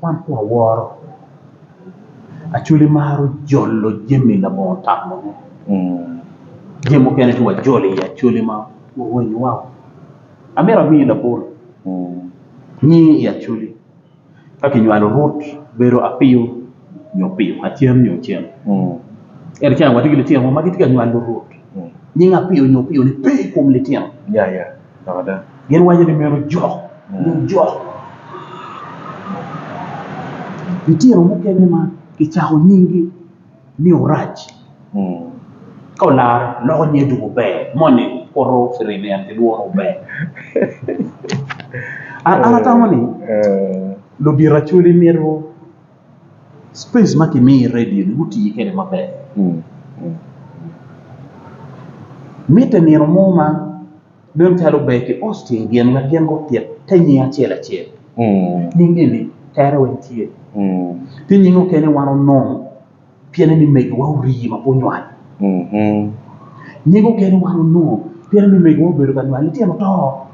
Wan pe waworo Acholi maro jolo jami labongo tamo ne jami mukene ci wajolo i Acholi ma orwenyo wa oo amito amiyi labolo nyinge i Acholi ka kinywalo Rut bedo Apiyo nyo Opiyo Acen nyo Ocen ento ceng watye ki litino mo ma gitye ka nywalo Rut nying Apiyo nyo Opiyo ni pe i kom litino. Gin waco ni myero ojok nyo ojok litino mukene ma ki cako nying gi ni Orac ka olaro loko nyinge dong ober moni kuto firimbi en ki lworo ober an atamo ni ludito acwali myero Space ma kimiyo i redio ni guti kede maber mitte nino mo ma nen calo ber ki Austin gin wek gin gutit te nying acel acel nying eni tere weng tye tye nying mukene wan onongo. Piene ni megiwa orii ma pe onywal. Nying okene wan onongo piene ni megiwa obedo ka nywal litino oto.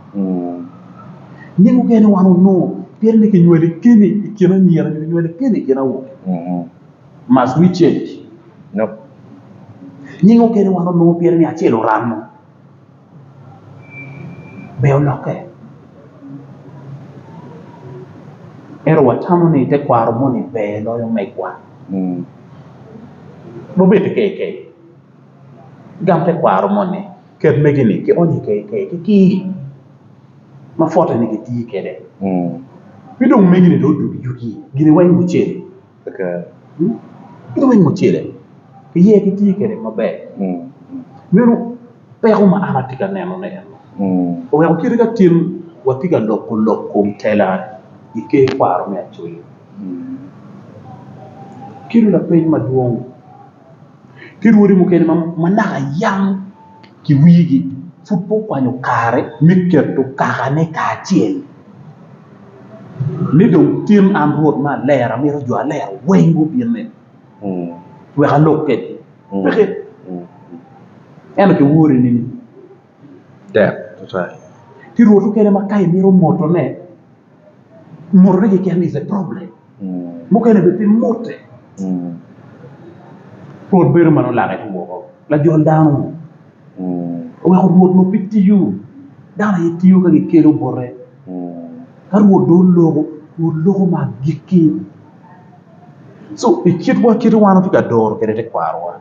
Nying okene wan onongo piene ni kinywali keni i kin anyira nyo kinywali keni i kin awobe. Must we change? Nope. Nying okene wan onongo piene ni acel oramo. be olokke ento watamo ni tekwaro moni ber loyo megwa wabed ki keikei gam tekwaro moni ket mege ni kionyo i keikei ki kii ma pwoteni gitiyo kwede ci dong mege ni dong odugo yugi gin weng gucel. Aka ituko i mucele iye kitye kwede maber meno peko ma an atye ka nenone eno oweko kite ka cen watye ka loko lok kom tela i ker kwaro me Acholi kelo lapeny madwong. ki rwodi mukene ma naka yam ki wigi pud pe okwanyo kare me keto kakane kacel ni dong tin an Rwot ma alero amito jo alero weng gubinne wek alok kwedgi. Ento kiwori nini? tek tutwal ki rwot mukene ma ka imito motone, motone keken is a problem mukene bene pe mote rwot bedo ma nongo lake tye woko lajol dano ni oweko rwot onongo pe tiyo dano aye tiyo ka gikelo bote ka rwot dong oloko rwot loko ma agikki so i kit wa kit ma wan watye ka doro kwede tekwarowa.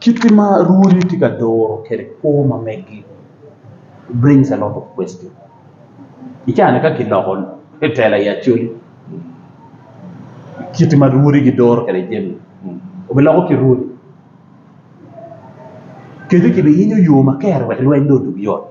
Kit ma rwodi tye ka duro kwede kwo ma megi brings a lot of question i caa-ni ka kiloko tela i Acholi kit ma rwodi giduro kwede jami obiloko ki rwodi kadi kibiyinyo yo maber wek lweny dong odog yot.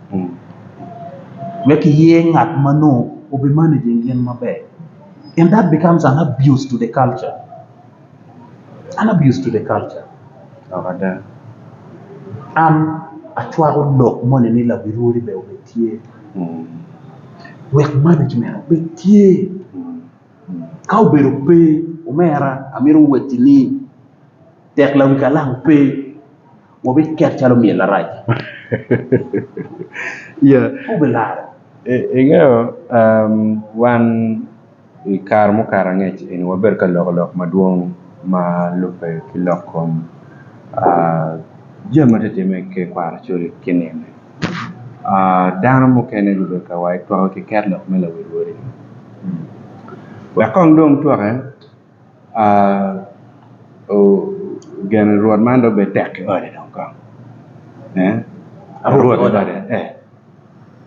wek iyer ngat ma nongo obi managing gin maber and that becomes an abuse to the culture an abuse to the culture dok ada an acwako lok moni ni labirwori bene obed tye wek management obed tye ka obedo pe omera amito wacci ni tek lawi kalam pe. Wubikek calo myel arac. Wubilaro. Ingeyo, wan i kare mukato angec eni wabedo ka loko lok madwong ma lubbe ki lok kom jami ma tye ka timme i ker kwaro col ki nino-ni. Dano mukene gubedo ka waco twake ki ket lok me lawil wode-ni. Wek kong dong twakke. Gen rwot man dong bed tek ki ode dong kong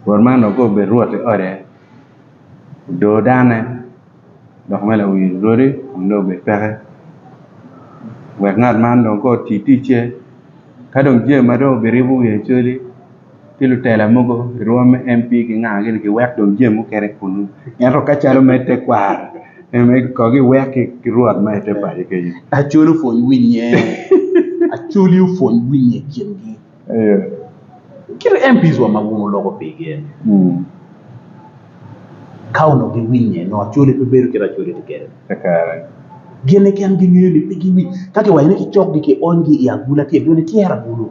rwot man dong kong obed rwot i ode odo dane dok bene owil rwodi kun dong obed peke wek ngat man dong kong oti ticce ka dong jami ma dong obirabo wiye cwali. ki lutela mogo irwo me MP gingaga gini giwek dong jami mukene kunu ento ka calo me tekwaro me kong giwek ki rwot ma i te paco kenyo Acholi opwony winye Acholi opwony winye i kingi kit MPs wa ma wun wuloko pigi eni ka onongo giwinye nongo Acholi pe bedo kit ma Acholi tye kwede ni gin keken gingeyo ni pe giwinye ka kiwaco ni kicokgi kionygi i agula tye dong nityero agulu.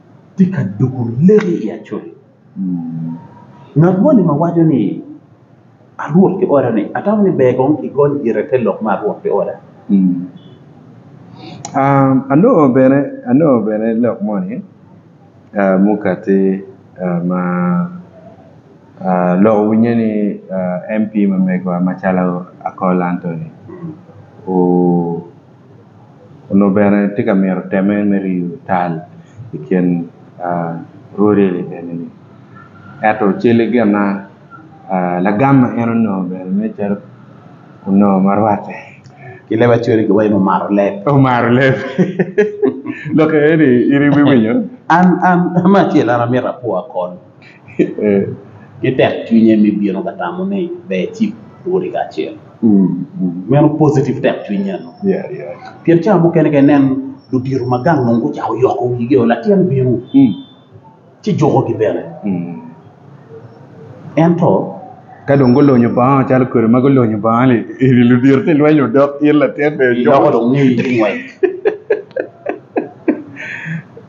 tye ka doko leki i acoli ngat moni ma waco ni arwot ki oda ni atamo ni ber kong ki gony gire te lok me arwot ki oda. Anongo bene anongo bene lok moni mukati ma lok winye ni MP ma megwa macalo Akol Anthony Onongo bene tye ka mito teme me riyo tal i kin rwode eni ento cale gin ma lagam ma en onongo bene nen calo onongo ma rwatte ki leb acwele giwaco ni omaro leb omaro leb lok eni in iwinyo? An acel an amito apwo akol. ki tekcwinye me bino ka tamo ni ber ecib lwoti kacel. Meno positive tekcwiny eno. Pien cawa mukene ka inen ludito ma gang nongo gucako yoko wigi o latin bino ci jukogi bene. Ento Ka dong gulonyo bongo calo kodi ma gulonyo bongo ni eni ludito ci lweny odok in latin bene iloko dong ngeyi ki ngwec.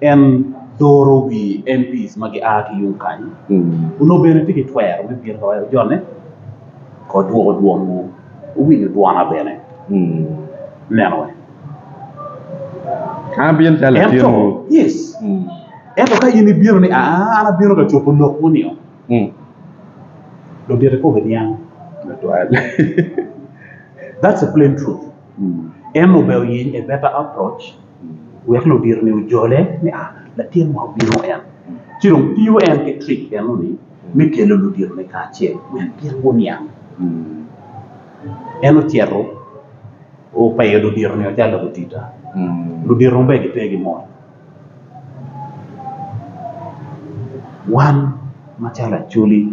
En doro wi MPs ma gia ki yung kany, onongo bene tye ki twero me bino ka wek ojone kor dwoko dwonwu. Wuwinyo dwona bene. Ineno wene? An abino calo Ento, latinwu. yes. Ento ka in ibino ni, aa, an abino ka cobo lokwu nio, Mm, ludito ikobo niang. Tutwal. That's the plain truth. Mm. En obeo yeny a better approach. wek ludito-ni ojole ni a, latinwa obino en. Ci dong tiyo en ki trick meno-ni me kelo ludito-ni kacel wek gin guniang. En ocito opeyo ludito-ni ocalo gutita, ludito maber gipe ki mot. Wan macalo acholi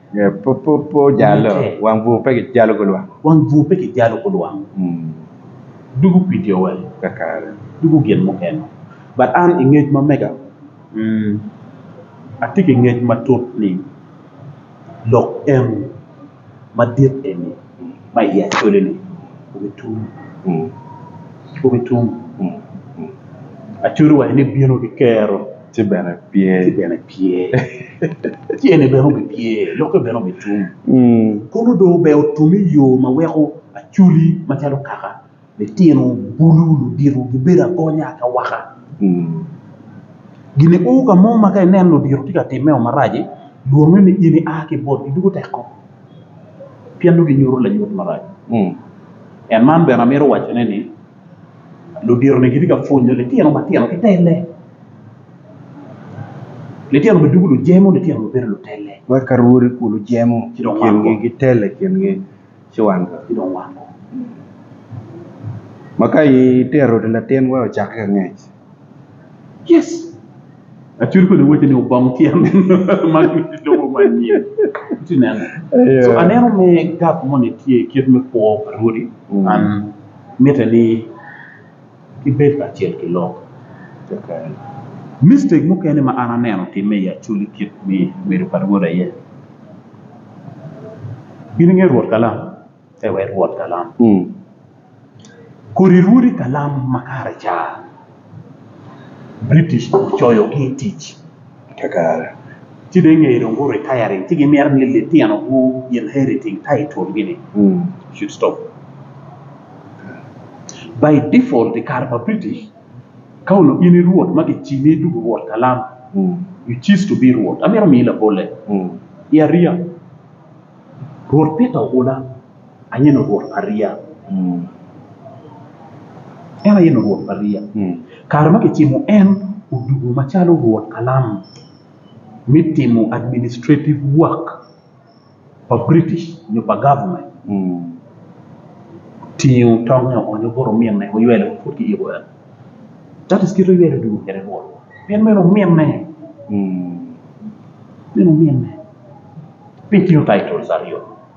Wang bur pe kijalo ku lwang. Dugu kwidi owe kakare dugu gin mukene but an i ngec ma mega atye ki ngec matut ni lok en madit eni. ma iye acoloni obitum, obitum, Acoli owaco ni bino ki kero ci bene pye, tyene bene obipye, lokke bene obitum, kono dong ober otum i yo ma weko Acoli macalo kaka. Litino bulu ludito gibedo agonya ka waka. Gin uu ka mo ma ka ineno ludito tye ka timmeo marac-ci, lwongngi ni in ia ki i botgi doko tek kong pien nongo ginyuto lanyut marac. En man bene amito wacone ni ludito-ni gitye ka pwonyo litino matino ki telle. Litino bene doko lujemo litino bene bedo lutelle. Cuwan ki dong wango. Ma ka itero oti latin wa ocakke ka ngec. Yes. Acwir kodi wacce ni obong tyen man ki lobo ma anyim. Iti neno? So aneno me gap moni tye kit me kwo pa Rwodi. An mitte ni. ki bedo kacel ki lok keken. Mistake mukene ma an aneno otimme i Acholi kit me bedo pa Rwot aye, in ingeyo Rwot kalam? Pe wai Rwot kalam. Kodi Rwodi kalam makareca British ocoyogi i tic. Ci dong ngeye dong gu retiring ci gi mito ni litino gu inheriting title gi ni should stop by default I kare pa British ka onongo in I rwot ma ki cimi I dugu rwot kalam you cease to be rwot amito miyi labolle I ariya rwot Peter oula. Ayen Rwot pa riya. En ayen Rwot pa riya. Kare ma kicimo en odugo macalo Rwot kalam me timo administrative work pa British nyo pa government. Otingo tongnge oonyo bot ominne oywelo ma pud kiyiko en. That is kite oywelo odugo kwede Rwot pien meno ominne. Meno ominne. Piny tingo titles aryo.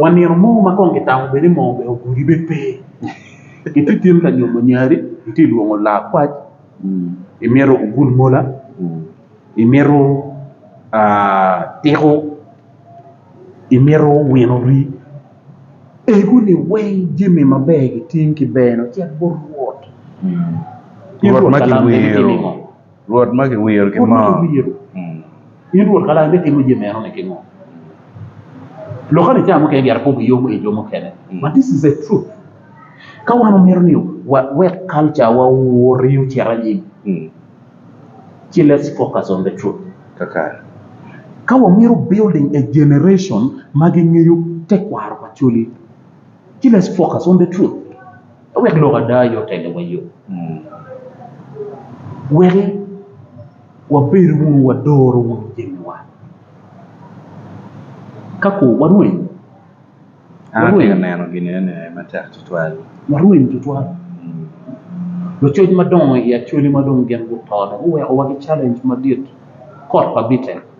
Wa nino mo ma kong kitamo bed ni moo bene ogudi bene pe iti tyen ka nyomo nyari iti lwongo lakwac imito ogul mola imito tiko imito wino rii egu ni weng jami maber gitye ki ber cek bot Rwot Rwot ma kiwiro. Rwot ma kiwiro ki moo. In Rwot Kalam itimo jami meno ni kingo? Lokke ni cawa mukene giato pogo yomo i jo mukene. But this is a truth. Ka wan wamito ni wawek culture wa owoti ocit anyim ci let's focus on the truth. Ka wamito building a generation ma gingeyo tekwaro pa cwali ci let's focus on the truth. Wek lok ada aye otelowa yo, wek wabedo wunu wadoro wunu jamiwa. Ka ku warweny, warweny tutwal. Lucoc madongo i Acholi ma dong gin guto dong guwekowa ki calenj madit, kot pa Bite.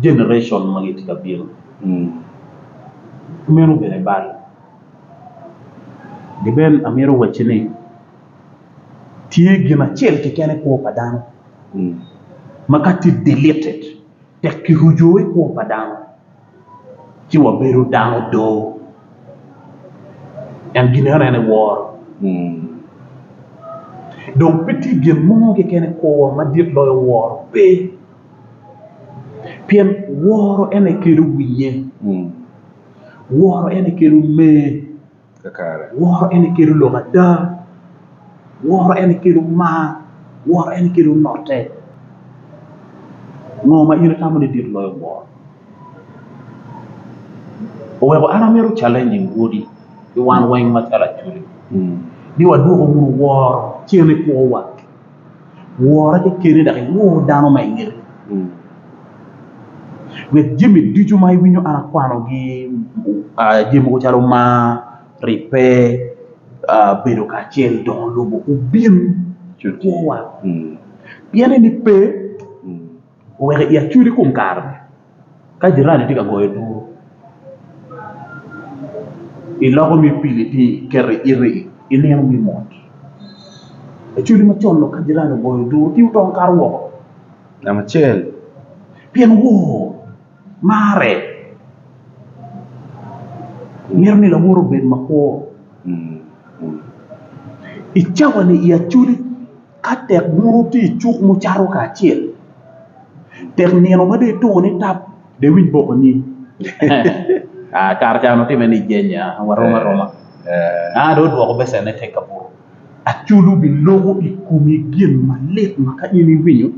Generation ma gitye ka bino meno bene bal gi bene amito wacci ni tye gin acel keken i kwo pa dano ma ka tye deleted tek ki ruco i kwo pa dano ci wa bedo dano do en gin eno en aye woro dong pe tye gin mo keken i kwo wa madit loyo woro pe. pien woro en aye kelo winye woro en aye kelo mer woro en aye kelo lok ada woro en aye kelo mar woro en aye kelo note ngo ma in itamo ni dit loyo woro oweko an amito calainging odi ki wan weng macalo acwec ni wadwoku wunu woro cen ikwowa. Wora ki keni dok iwor dano ma ingeti. Wek jami ducu ma iwinyo an akwanogi jami mogo calo mar, ribbe, bedo kacel, dongo lobo obin ki kwowa pien eni pe. Wek i acwidi kom kare-ni, ka jirani tye ka goyo duru, iloko ni pili tye iketo i iti i nino me mot. Acwidi macon dok ka jirani ogoyo duru ci otong kato woko namba acel pien wor marre mito ni lawor obed makwo i cawa ni i acwidi. Ka tek bur otye i cuk ma wucato kacel, tek nino mada ituko ni tap dong iwiny boko nying. Kare ca onongo timme ni ijenya warom aroma, dong odwoko becenne tek ka buto. Aculu biloko i komi gin malit ma ka in iwinyo.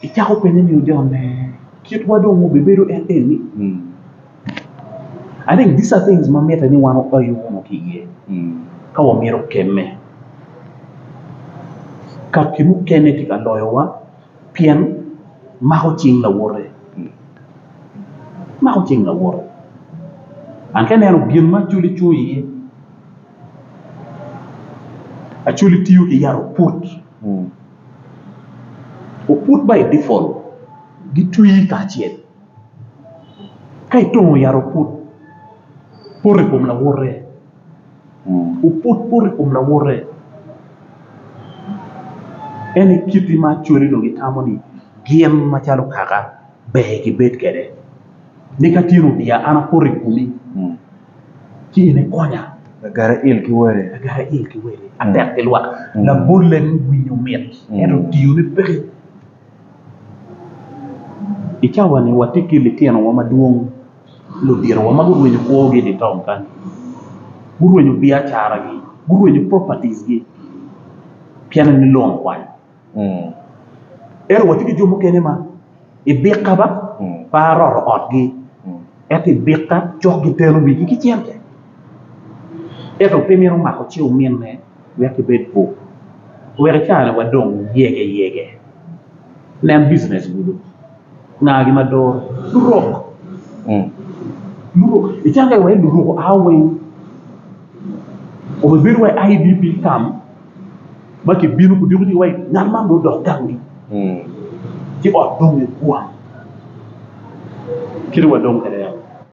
Icako penye ni ojone, kitwa dong wubibedo enini? I think these are things ma mitte ni wan wapayu wunu ki iye ka wamito kemme. Kaki mukene tye ka loyowa pien mako cing lawote, mako cing lawote. An ka ineno gin ma Acoli cung iye, Acoli tiyo ki yat oput. oput ma i dipol gitwi kacel ka itongo yat oput poto i kom lawote oput poto i kom lawote en aye kit ma acwali onongo gitamo ni gin macalo kaka ber kibed kwede ni ka tye lubia an apoto i komi. Lagarail ki wele atek ki lwak. Labole ni winyo mit ento tiyo ne peke. I cawa ni watye ki litino wa madwong ki litino wa magurwenyo kwo gi itaun kany. Gurwenyo biacara gi, gurwenyo properties gi pien ni lon okwany. Ento watye ki jo mukene ma i bika ba pe aroto otgi ento i bika cok giteno wigi ki cente ento pe mito mako cing ominne wek gibed bwok wek i kare-ni wadong yegeyege nen bijinec kulu ngagi ma doro lurok lurok icange wai lurok ao weng kome bedo wai IDP kam. ma kibino ku diko wa ngat man dong odok gangi ci ot dong ni kwang kit wa dong kwede yam.